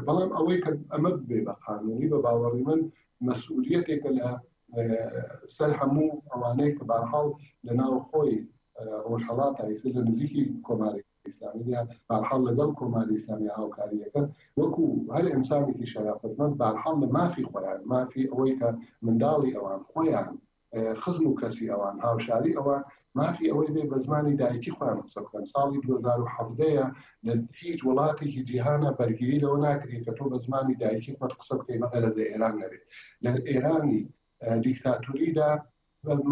بەڵام ئەوەی کە ئەمە بێ بە قانونی بە باوەڕی من مەسئولیتێکە لە سەر هەموو ئەوانەی کە باحاڵ لە ناو خۆی ڕۆژهەڵات ئایسر لە نزیکی کۆمارێک ئیسلامیە بارحاڵ لەگەڵ کۆماری ئیسلامی هاوکاریەکەن وەکو هەر ئەنسانێکی شەرافەتمەند بارحاڵ لە مافی خۆیان مافی ئەوەی کە منداڵی ئەوان خۆیان خزم و کەسی ئەوان هاوشاری ئەوان مافی ئەوەی بێ بە زمانی دایکی خۆیان قسە بکەن ساڵی 2017ەیە لە هیچ وڵاتێکی جیهانە بەرگیری لەوە ناکرێت کە تۆ بە زمانی دایکی خۆت قسە بکەی بەقە لە ئێران نەبێت لە ئێرانی دیکتاتوریدا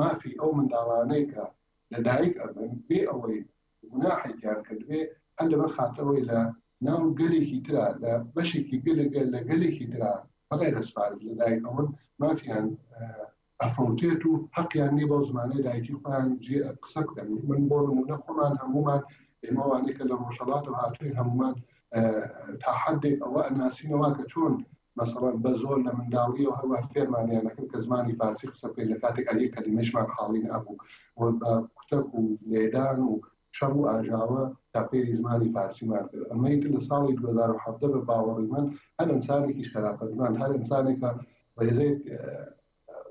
مافی ئەو منداڵانەی کە لە دایک ئەبن بێ ئەوەی گوناحێکیان کردبێ، هەر لەبەر خاتر ئەوەی لە ناو گەلێکی ترا، لە بەشێکی گەل لە گەلێکی ترا بەغەیر ئەز فارس لە دایک ئەبن، مافیان ئەفەوتێت و حەقیان نیە بەو زمانەی دایکی خۆیان جێ قسە بکەن. من بۆ نموونە خۆمان هەموومان ئێمە وانەی کە لە ڕۆژهەڵاتەوە هاتووین هەموومان تا حەدێک ئەوە ئەناسینەوە کە چۆن مەسەڵەن بە زۆر لە منداڵییەوە هەروەها فێرمانیان دەکرد کە زمانی فارسی قسە بکەین لە کاتێکا یەک کەلیمەیشمان حاڵین ئەبوو و بە کوتەک و لێدان و شەڕ و ئاژاوە تا فێری زمانی فارسیمان کرد ئەمەی لە ساڵی 2017 بە باوەڕی من هەر ئەنسانێکی سەراپەدمان هەر ئەنسانێکە ڕێزێک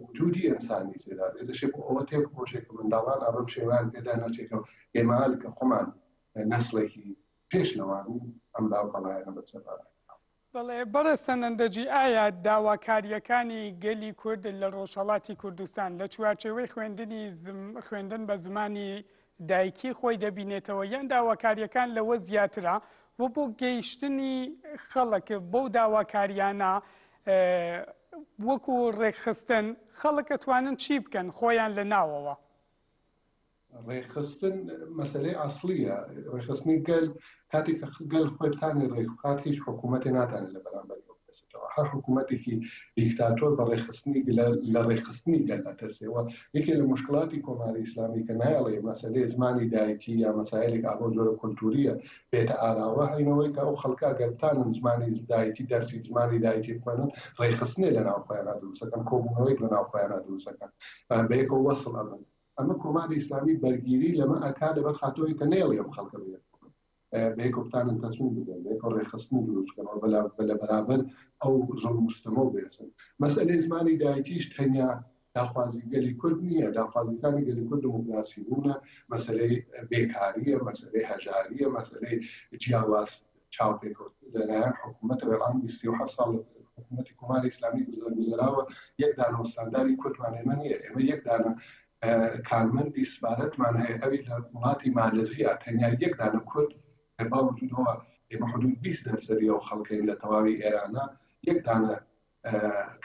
وجودی ئەنسانی تێدا بێ دەشێ بۆ ئەوە تێ بخۆشێک کە منداڵان ئابم شێوان پێدا نەچێتەوە ئێمال کە خۆمان نەسڵێکی پێش لەوان ئەم داوپەڵایەنە بەسەرمان بەڵێ بەڕێز سەنەندەجی، ئایا داواکارییەکانی گەلی کورد لە ڕۆژهەڵاتی کوردستان لە چوارچێوەی خوێندنی خوێندن بە زمانی دایکی خۆی دەبینێتەوە یان داواکارییەکان لەوە زیاترە و بۆ گەیشتنی خەڵک بەو داواکاریانە وەکو ڕێکخستن خەڵک ئەتوانن چی بکەن خۆیان لە ناوەوە؟ ڕێکخستن مەسەلەی ئەسڵیە ڕێکخستنی گەل کاتی کە گەل خۆی بتانی ڕێکخات هیچ حکوومەتی ناتانێت لە بەرامبەر بکەسێتەوە هەر حکوومەتێکی دیکتاتۆر بە ڕێکخستنی لە ڕێکخستنی گەل ئەترسێەوە یەکێ لە مشکلاتی کۆماری ئیسلامی کە نایڵێ مەسەلەی زمانی دایکی یا مەسایلێک ئابۆ زۆرە کولتوریە بێتە ئاراوە هەینەوەی کە ئەو خەڵکا گەرتانن زمانی دایکی دەرسی زمانی دایکی بخوێنن ڕێکخستنێ لە ناوخۆیانە دروستەکەن کۆبوونەوەی لە ناوخۆیانە دروستەکەن بەیەکەوە وەسڵ ئەبن ئەمە کۆماری ئیسلامی بەرگیری لەمە ئەکا لەبەر خاتۆی کە نێڵی ئەم خەڵکە بێت بەیەکۆ بتانن تەسمیم بدەن بەیەکۆ ڕێخستن دروستکەەوە بەلا بەلە بەرابەر ئەو زۆر مستەمە و بێسن مەسئلەی زمانی دایکیش تەنیا داخوازی گەلی کورد نییە داخوازیەکانی گەلی کورد دموکراسی بوونە مەسلەی بێکاریە مەسلەی هەژاریە مەسلەی جیاواز چاوپێکەوت لەلایەن حکوومەتەوە ئەم بیستی و حەفت ساڵ حکوومەتی کۆماری ئیسلامی گوزەر گوزەراوە یەک دانە وەستانداری کوردمان ئێمە نییە ئێمە یەک دانە کارمەندی سپارەتمان هەیە ئەوی لە وڵاتی مالزیە تەنیا یەک دانە کورد باوجودەوە ئێمە حدود 20 دەرسەری ئەو خەڵکەین لە تەواوی ئێرانە یەک دانە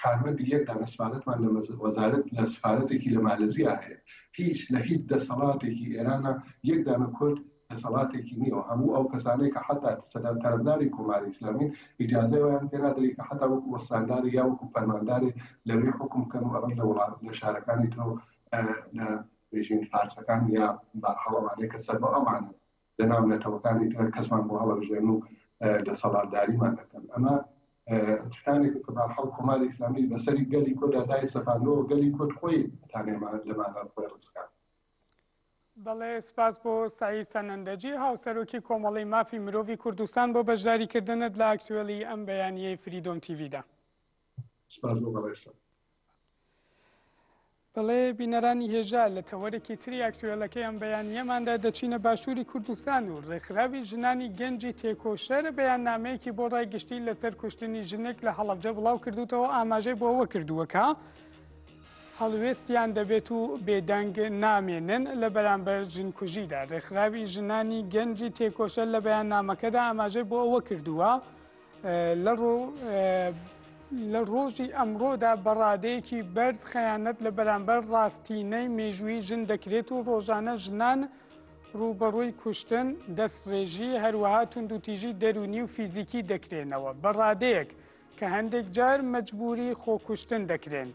کارمەندی یەک دانە سفارەتمان لە وەزارەت لە سفارەتێکی لە مالزیا هەیە هیچ لە هیچ دەسەڵاتێکی ئێرانە یەک دانە کورد دەسەڵاتێکی نییەوە هەموو ئەو کەسانەی کە حتا سەدان تەرەفداری کۆماری ئیسلامی ئیجازەوەیان پێنادەری کە حتا وەکو وەستانداری یا وەکو فەرمانداری لەوێ حکم بکەن و ئەڕن لە وڵات لە شارەکانی ترۆ لە بژین فارسەکان یا باحاڵەوانەیە کە سەر بە ئەوانە لەناو نەتەوەکانی تر کەسمان بۆ هەڵەبژێرن و دەسەڵاتداریمان دەکەن ئەمە شتانێک کە بارحاڵ کۆماری ئیسلامی بەسەری گەلی کۆدا دای سەپانەوە گەلی کۆت خۆی تانێمان لەمانە خۆی ڕزکان بەڵێ سپاس بۆ سعی سەنەندەجی هاوسەرۆکی کۆمەڵی مافی مرۆڤی کوردستان بۆ بەشداریکردنت لە ئاکتوێلی ئەم بەیانیەی فریدۆم تیڤدا سپاس بۆ بەڕێزتان. بەڵێ بینەرانی هێژا لە تەوەرێکی تری ئاکتوێلەکەی ئەم بەیانیەماندا دەچینە باشووری کوردستان و ڕێکخراوی ژنانی گەنجی تێکۆشەر بەیان نامەیەکی بۆ ڕای گشتی لەسەر کوشتنی ژنێک لە هەڵەبجە بڵاو کردوتەوە ئاماژەی بۆ ئەوە کردووەکە هەڵوێستیان دەبێت و بێدەنگ نامێنن لە بەرامبەر ژنکوژیدا ڕێکخراوی ژنانی گەنجی تێکۆشەر لە بەیان نامەکەدا ئاماژەی بۆ ئەوە کردووە لە ڕۆژی ئەمڕۆدا بەڕادەیەکی بەرز خەیانەت لە بەرامبەر ڕاستینەی مێژووی ژن دەکرێت و ڕۆژانە ژنان ڕووبەڕووی کوشتن دەستڕێژی هەروەها توندوتیژی دەرونی و فیزیکی دەکرێنەوە بەڕادەیەک کە هەندێک جار مەجبوری خۆکوشتن دەکرێن.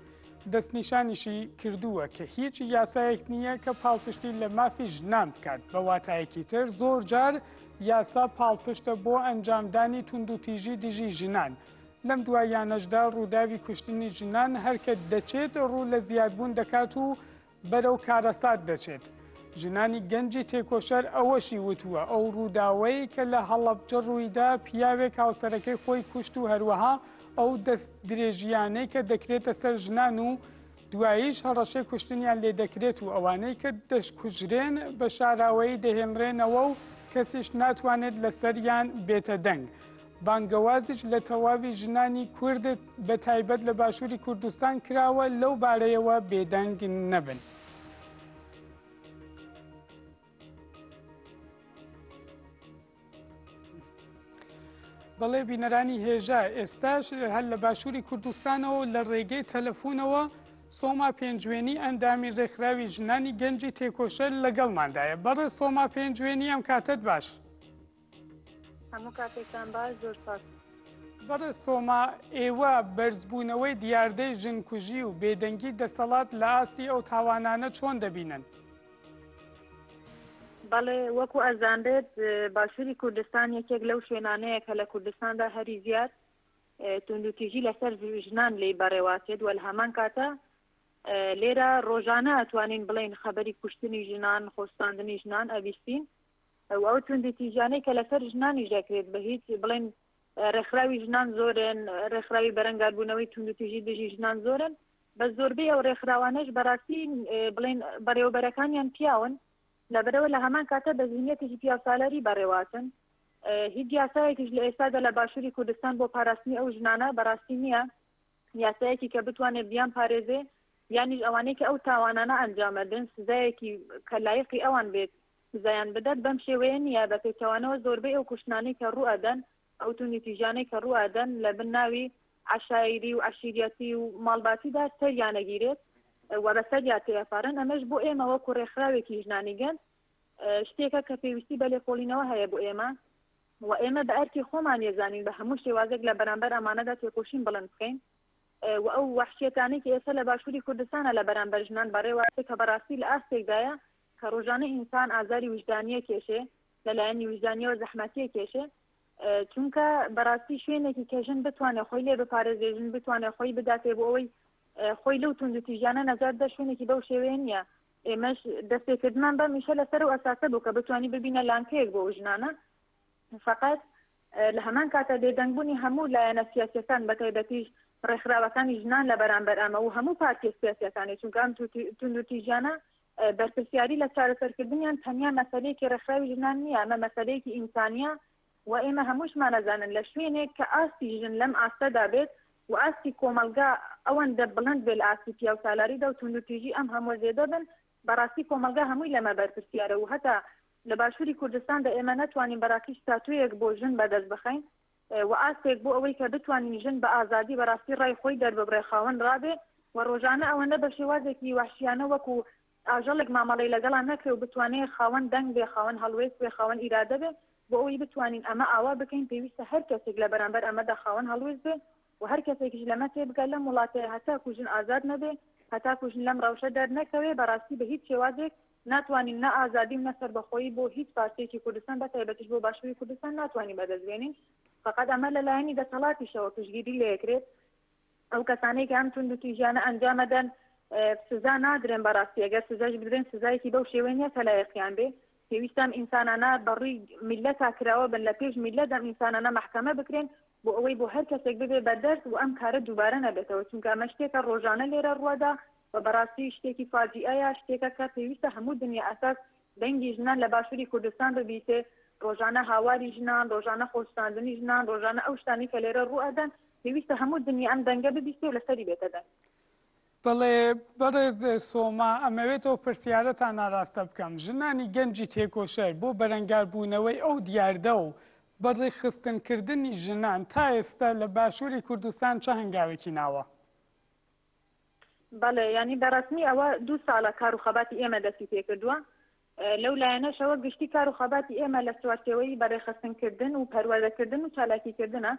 دەستنیشانیشی کردووە کە هیچ یاسایەک نییە کە پاڵپشتی لە مافی ژنان بکات بە واتایەکی تر زۆر جار یاسا پاڵپشتە بۆ ئەنجامدانی توندوتیژی دژی ژنان، لەم دواییانەشدا ڕووداوی کوشتنی ژنان هەرکە دەچێت ڕوو لە زیادبوون دەکات و بەرەو کارەسات دەچێت. ژنانی گەنجی تێکۆشەر ئەوەشی وتووە، ئەو ڕووداوەی کە لە هەڵەبجە ڕوویدا پیاوێک هاوسەرەکەی خۆی کوشت و هەروەها ئەو دەست درێژییانەی کە دەکرێتە سەر ژنان و دواییش هەڕەشەی کوشتنیان لێ دەکرێت و ئەوانەی کە دەشکوژرێن بە شاراوەیی دەهێنرێنەوە و کەسیش ناتوانێت لەسەریان بێتە دەنگ. بانگەوازیش لە تەواوی ژنانی کورد بە تایبەت لە باشووری کوردستان کراوە لەو بارەیەوە بێدەنگ نەبن. بەڵێ بینەرانی هێژا ئێستاش هەر لە باشووری کوردستانەوە لە ڕێگەی تەلەفۆنەوە سۆما پێنجوێنی ئەندامی ڕێکخراوی ژنانی گەنجی تێکۆشەر لەگەڵماندایە بەڕێ سۆما پێنجوێنی ئەم کاتت باش. هەموو کاتێکتان باش زۆر سپاس. بەڕێز سۆما، ئێوە بەرزبوونەوەی دیاردەی ژنکوژی و بێدەنگی دەسەڵات لە ئاستی ئەو تاوانانە چۆن دەبینن؟ بەڵێ، وەکو ئەزانرێت باشووری کوردستان یەکێک لەو شوێنانەیە کە لە کوردستاندا هەری زیاد توندوتیژی لەسەر ژنان لێی بەڕێوەچێت و لە هەمان کاتە لێرە ڕۆژانە ئەتوانین بڵێین خەبەری کوشتنی ژنان، خۆستاندنی ژنان ئەبیستین. و ئەو توندوتیژیانەی کە لەسەر ژنانیش دەکرێت بە هیچ بڵێن ڕێکخراوی ژنان زۆرن ڕێکخراوی بەرەنگاربوونەوەی توندوتیژی دژی ژنان زۆرن بە زۆربەی ئەو ڕێکخراوانەش بەڕاستی بڵێن بەڕێوەبەرەکانیان پیاون لەبەرەوە لە هەمان کاتە بە زیینەتێکی پیاوسالاری بەڕێواتن هیچ یاسایەکیش لە ئێستادا لە باشووری کوردستان بۆ پاراستنی ئەو ژنانە بەڕاستی نییە یاسایەکی کە بتوانێت بیان پارێزێ یانیش ئەوانەی کە ئەو تاوانانە ئەنجامەدن سزایەکی کە لایقی ئەوان بێت سزایان بدات، بەم شێوەیە نییە، بە پێچەوانەوە زۆربەی ئەو کوشتنانەی کە ڕوو ئەدەن، ئەو توندوتیژیانەی کە ڕوو ئەدەن لە بن ناوی عەشایری و عەشیریەتی و ماڵباتیدا سەریان ئەگیرێت و بە سەریا تێئەپەڕێن، ئەمەش بۆ ئێمە وەکو ڕێکخراوێکی ژنانی گەنج شتێکە کە پێویستی بە لێکۆڵینەوە هەیە بۆ ئێمە و ئێمە بە ئەرکی خۆمان یەزانین بە هەموو شێوازێک لە بەرامبەر ئەمانەدا تێکۆشین بڵند بکەین و ئەو وەحشیەتانەی کە ئێستا لە باشوری کوردستانا لە بەرامبەر ژنان بەڕێوە ئەچێت کە بەڕاستی لە ئاستێکدایە کە ڕۆژانە ئینسان ئازاری ویژدانی ئەکێشێ لە لایەنی ویژدانیەوە زەحمەتی ئەکێشێ چونکە بەڕاستی شوێنێکی کە ژن بتوانێت خۆی لێ بپارێزێ ژن بتوانێت خۆی بداتێ بۆ ئەوەی خۆی لەو تونند و تیژانە نەجات دە شوێنێکی بەو شێوەیە نییە ئێمەش دەستێکردمان بە میشە لەسەر و ئەساسە بوو کە بتانی ببینە لانکەیەک بۆ ژنانە فقط لە هەمان کاتە بێدەنگبوونی هەموو لایەنە سیاسەکان بە تایبەتیش ڕێکخراوەکانی ژنان لە بەرامبەر ئەمە و هەموو پارتیە سیاسەکانی چونکە ئەم تونند و تیژانە بەرپرسیاری لە چارەسەرکردنیان تەنیا مەسەلەیەکی ڕێکخراوی ژنان نییە، ئەمە مەسەلەیەکی ئینسانییە و ئێمە هەمووشمان ئەزانن لە شوێنێک کە ئاستی ژن لەم ئاستەدا بێت و ئاستی کۆمەڵگا ئەوەندە بڵند بێت لە ئاستی پیاوسالاریدا و توندوتیژی ئەم هەمووە زێدە بن، بەڕاستی کۆمەڵگا هەمووی لەمە بەرپرسیارە و هەتا لە باشووری کوردستاندا ئێمە نەتوانین بەڕاستی ستاتۆیەک بۆ ژن بەدەست بخەین، و ئاستێک بۆ ئەوەی کە بتوانین ژن بە ئازادی بەراستی ڕای خۆی دەرببڕێ خاوەن ڕابێ و ڕۆژانە ئەوەندە بە شێوازێکی وەحشیانە وەکو ئاژەڵێک مامەڵەی لەگەڵا نەکرێ و بتوانێ خاوەن دەنگ بێ خاوەن هەڵوێست بێ خاوەن ئیرادە بێ بۆ ئەوەی بتوانین ئەمە ئاوا بکەین پێویستە هەر کەسێک لە بەرامبەر ئەمەدا خاوەن هەڵوێست بێ و هەر کەسێکیش لەمە تێبگات لەم وڵاتەیا هەتاکو ژن ئازاد نەبێ، هەتاکو ژن لەم ڕەوشە دەرنەکەوێ، بەڕاستی بە هیچ شێوازێک ناتوانین نە ئازادی و نە سەربەخۆیی بۆ هیچ پارچەیەکی کوردستان بە تایبەتیش بۆ باشوری کوردستان ناتوانین بەدەست بێنین، فەقەت ئەمە لە لایەنی دەسەڵاتیشەوە پشتگیری لێکرێت، ئەو کەسانەی کە ئەم توندوتیژیانە ئەنجام ئەدەن سزا نادرێن، بەڕاستی ئەگەر سزایش بدرێن سزایەکی بەو شێوەی نیە کە لایەقیان بێ، پێویستە ئەم ئینسانانە بە ڕووی میللەتا کراوە بن، لە پێش میللەت ئەم ئینسانانە مەحکەمە بکرێن بۆ ئەوەی بۆ هەر کەسێک ببێ بە دەرس و ئەم کارە دووبارە نەبێتەوە، چونکە ئەمە شتێکە ڕۆژانە لێرە ڕووەدا و بە ڕاستی شتێکی فاجیئەیە، شتێکە کە پێویستە هەموو دنیا ئەساس دەنگی ژنان لە باشووری کوردستان ببیسێ، ڕۆژانە هاواری ژنان، ڕۆژانە خۆسوتاندنی ژنان، ڕۆژانە ئەو شتانەی کە لێرە ڕووئەدەن، پێویستە هەموو دنیا ئەم دەنگە ببیسێ و لەسەری بێتە دەنگ. بەڵێ بەڕێز سۆما ئەمەوێت ئەو پرسیارەتان ناراستە بکەم ژنانی گەنجی تێکۆشەر بۆ بەرەنگاربوونەوەی ئەو دیاردە و بەڕیخستنکردنی ژنان تا ئێستا لە باشووری کوردستان چ هەنگاوێکی ناوە؟ بەڵێ ینی بەڕسمی ئەوە دوو ساڵە کار و خەباتی ئێمە دەستی پێکردووە لەو لایەنەشەوە گشتی کار و خەباتی ئێمە لە چوارچەوەی بەڕێخستنکردن و پەروەردەکردن و چالاکیکردنە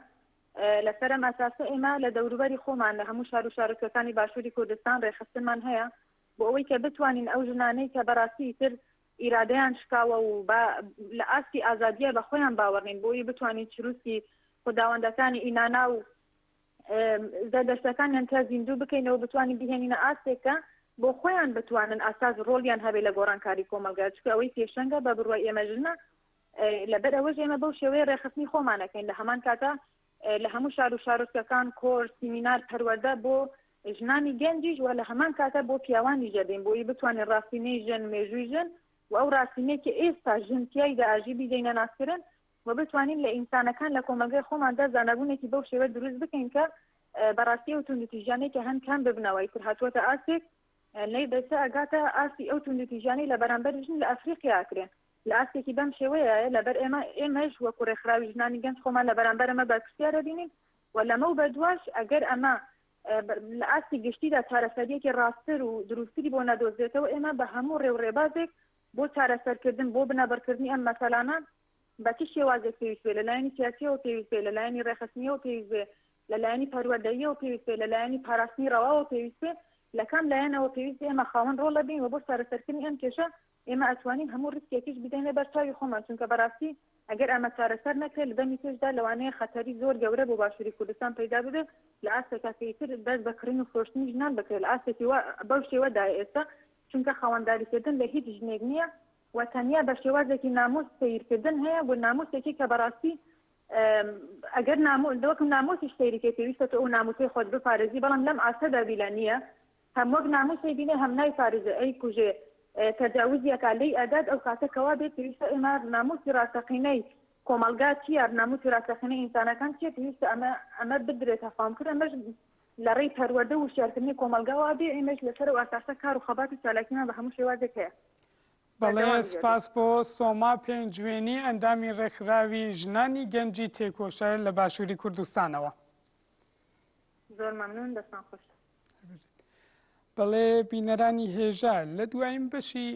لەسەر ئەم ئەساسە ئێمە لە دەوروبەری خۆمان لە هەموو شار و شارۆچکەکانی باشووری کوردستان رێکخستنمان هەیە بۆ ئەوەی کە بتوانین ئەو ژنانەی کە بەراستی ئیتر ئیرادەیان شکاوە و با لە ئاستی ئازادییە بە خۆیان باوەڕ نین بۆیی بتوانین چروسکی خوداوەندەکانی ئینانا و زەردەشتەکانیان تیا زیندوو بکەینەوە بتوانین بهێنینە ئاستێک کە بۆ خۆیان بتوانن ئاساس رۆڵیان هەبێ لە گۆڕانکاری کۆمەڵگا چونکە ئەوەی پێشەنگە بە بڕوای ئێمە ژنە لەبەر ئەوەش ئێمە بەو شێوەیە ڕێکخستنی خۆمان ئەکەین، لە هەمان کاتا لە هەموو شار و شارۆچکەکان کۆرس، سیمینار، پەروەردە بۆ ژنانی گەنجیش و لە هەمان کاتا بۆ پیاوانیش دەدەین، بۆی بتوانین ڕاستینەی ژن، مێژووی ژن و ئەو ڕاستینەی کە ئێستا ژن تیایدا ئاژی بیدەینە ناسکردن و بتوانین لە ئینسانەکان لە کۆمەڵگای خۆماندا زانابوونێکی بەو شێوە دروست بکەین کە بەڕاستی ئەو توندوتیژانەی کە هەن کەم ببنەوە، ئیتر هاتووەتە ئاستێک لەی دەچێ ئەگاتە ئاستی ئەو توندوتیژانەی لە بەرامبەر ژن لە ئەفریقیا ئەکرێن. لە ئاستێکی بەم شێوەیەیە لەبەر ئێمە، ئێمەش وەکو ڕێکخراوی ژنانی گەنج خۆمان لە بەرامبەر ئەمە بەرپرسیار ئەبینین و لەمەو بەدواش ئەگەر ئەمە لە ئاستی گشتیدا چارەسەرییەکی ڕاستتر و دروستتری بۆ نەدۆزرێتەوە، ئێمە بە هەموو ڕێ و ڕێبازێک بۆ چارەسەرکردن، بۆ بنەبڕکردنی ئەم مەسەلانە بە چ شێوازێک پێویست بێ، لە لایەنی سیاسییەوە پێویست بێ، لە لایەنی ڕێکخستنییەوە پێویست بێ، لە لایەنی پەروەردەییەوە پێویست بێ، لە لایەنی پاراستنی ڕەواوە پێویست بێ، لە کام لایەنەوە پێویست بێ، ئێمە خاوەن ڕۆڵ ئەبین و بۆ چارەسەرکردنی ئەم کێشە ئێمە ئەتوانین هەموو ریسکێکیش بدەینە بەر چاوی خۆمان، چونکە بەراستی ئەگەر ئەمە چارەسەر نەکرێت لە دەمی پێشدا لەوانەیە خەتەری زۆر گەورە بۆ باشوری کوردستان پەیدا ببێت لە ئاستێکا کە ئیتر دەست بە کڕین و فرۆشتنی ژنان بکرێت لە ئاستێکی وا بەو شێوە دایە ئێستا چونکە خاوەنداری کردن لە هیچ ژنێک نییە و تەنیا بە شێوازێکی ناموس سەیر کردن هەیە و ناموسێکی کە بەراستی ئەگەر ناموس دۆکم ناموسیش سەیری کەی پێویستە تۆ ئەو ناموسەی خۆت بپارێزی بەڵام لەم ئاستەدا بیلا نییە هەم وەک ناموس ئەیبینێ هەم نایپارێزێ ئەیکوژێ تەجاوزی ئەکا لێی ئەدات ئەو کاتە کەوا بێت پێویستە ئێمە ناموسی ڕاستەقینەی کۆمەڵگا چیە ناموسی ڕاستەقینەی ئینسانەکان چیە پێویستە ئەمە ئەمە بدرێتە فام کورە ئەمەش لە ڕێی پەروەردە و وشیارکردنی کۆمەڵگاوا بێ ئێمەش لەسەر و ئاساسە کار و خەبات و چالاکیمان بە هەموو شێوازێک هەیە بەڵێ سپاس بۆ سۆما پێنجوێنی ئەندامی ڕێکخراوی ژنانی گەنجی تێکۆشەر لە باشووری کوردستانەوە زۆر مەمنون دەستان خۆش بەڵێ بینەرانی هێژا لە دوایین بەشی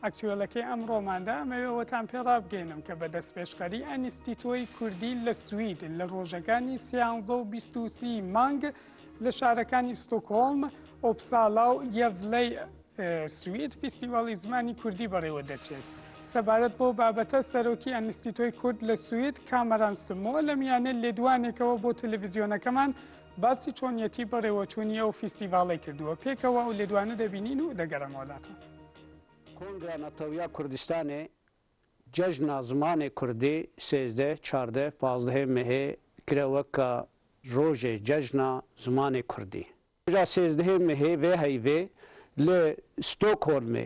ئەکتوێلەکەی ئەمڕۆماندا ئەمەوێەوەتان پێڕابگەێنم کە بە دەست پێشخەری ئەنیستیتۆی کوردی لە سوید لە ڕۆژەکانی سیانزە و بیستوسی مانگ لە شارەکانی ستۆکۆڵم ئۆپسالا و یەڤلەی سوید فیستیڤاڵی زمانی کوردی بەڕێوە دەچێت. سەبارەت بۆ بابەتە سەرۆکی ئەنیستیتۆی کورد لە سوید کامەران سمۆ لە میانە لێدوانێکەوە بۆ تەلەڤزیۆنەکەمان باسی چۆنیەتی بەڕێوەچوونی ئەو فیستیڤاڵەی کردووە، پێکەوە ئەو لێدوانە دەبینین و دەگەڕێمەوە لاتان. کۆنگرا نەتەویە کوردستانێ جەژنە زمانێ کوردی سێزدە، چاردە، پازدهێ مەێ کرە وە کە ڕۆژێ جەژنە زمانێ کوردی. ڕۆژا سێزدهێ مەێ ڤێ هەیڤێ لە ستۆکهۆلمێ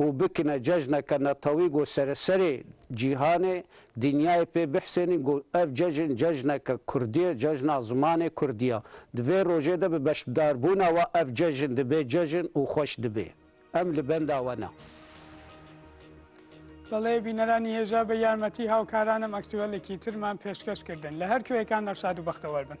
و بکنە جەژنەکە نەتەوی گۆ سەرە سەرێ جیهانێ دنیایێ پێ بحسێنین گۆ ئەڤ جەژن جەژنەکە کوردیە جەژنا زمانێ کوردیە دڤێ رۆژێ دە بە بەشبدار بوونا وە ئەڤ جەژن دبێ جەژن و خوەش دبێ ئەم لە بەندا وەنە. بەڵێ بینەرانی هێژا بە یارمەتی هاوکارانم ئەکتوەلێکی ترمان پێشکەش کردن لە هەر کوێیەکان نەشاد و بەختەوەر بن.